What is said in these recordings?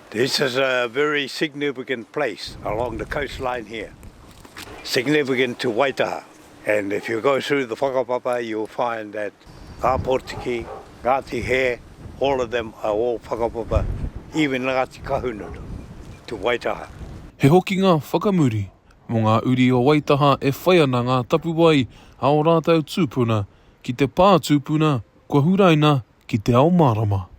This is a very significant place along the coastline here, significant to Waitaha and if you go through the whakapapa you will find that Ngā Potiki, Ngāti Hē, all of them are all whakapapa, even Ngāti Kahungunu to Waitaha. He hokinga whakamuri mō ngā uri o Waitaha e whai ana ngā tapuwae a ō rātou tūpuna ki te pā tūpuna kua huraina ki te ao mārama.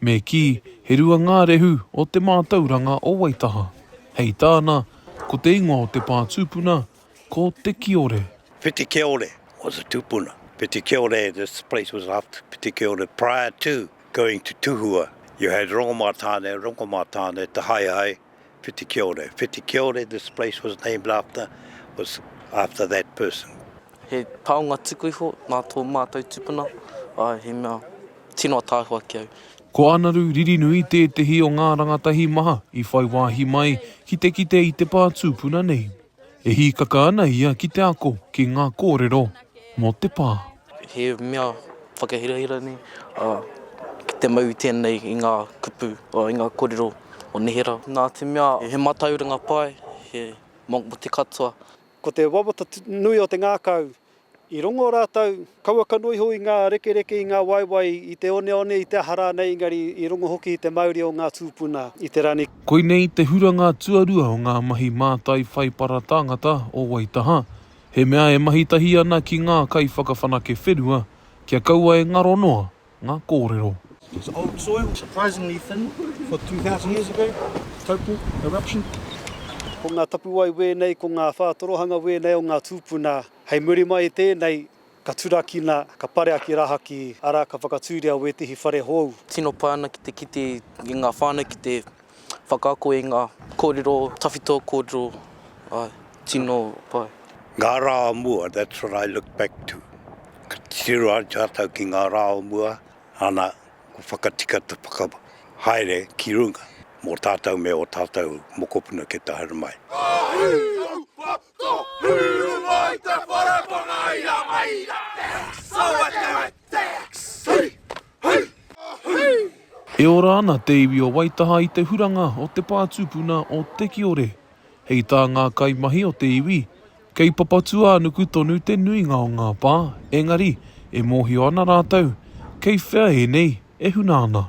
Me kī, he rua ngā rehu o te mātauranga o Waitaha. Hei tāna, ko te ingoa o te pā tūpuna, ko Te Kiore. Whitikiore was the tupuna. Whitikiore, this place was after Whitikiore. Prior to going to Tuhua, you had Rongomatāne, Rongomatāne, Te Haehae, Whitikiore, Whitikiore, this place was named after, was after that person. He taonga tuku iho nā tō mātou tupuna, āe, he mea tino ataahua ki au. Ko Ānaru Ririnui tētehi o ngā rangatahi maha i whai wāhi mai ki te kite i te pā tūpuna nei. E hīkaka ana ia ki te ako ki ngā kōrero mō te pā. He mea whakahirahira nei, ā, ki te mau i tēnei i ngā kupu, ā, i ngā kōrero o neherā. Nā te mea he mātauranga pai, he mō te katoa. Ko te wawata nui o te ngākau I rongo rātou, kaua kanoa iho i ngā rekereke, i ngā waewae, i te oneone, i te aha rānei, engari i rongo hoki i te mauri o ngā tūpuna i te rangi. Koinei te huranga tuarua o ngā mahi mātai whaipara tāngata o Waitaha, he mea e mahi tahi ana ki ngā kaiwhakawhanake whenua kia kaua e ngaro noa ngā kōrero. It's old soil, surprisingly thin for 2000 years ago, tapu, eruption. Ko ngā tapuwae wēnei, ko ngā whātorohanga wēnei o ngā tūpuna, hei muri mai i tēnei, ka turakina, ka parea ki rahaki, arā, ka whakatūria wētehi whare hou. Tino pai ana ki te kite i ngā whānau ki te Whakaako i ngā kōrero tawhito, kōrero tino pai. Ngā rā o mua, that's what I look back to. Ka titiro atu tātou ki ngā rā o mua, ana, kua whakatika te whakahaere ki runga mō tātou me ō tātou mokopuna ki te haere mai. Ko Pūruma i te wharakona i a mai i a Tex! Awe te we Tex! Hui! Hui! Hui! E ora ana te iwi o Waitaha i te huranga o te pā tupuna o Te Kiore. Hei tā ngā kaimahi o te iwi, kei Papatūānuku tonu te nuinga o ngā pā, engari, e mōhio ana rātou, kei whea ēnei e huna ana.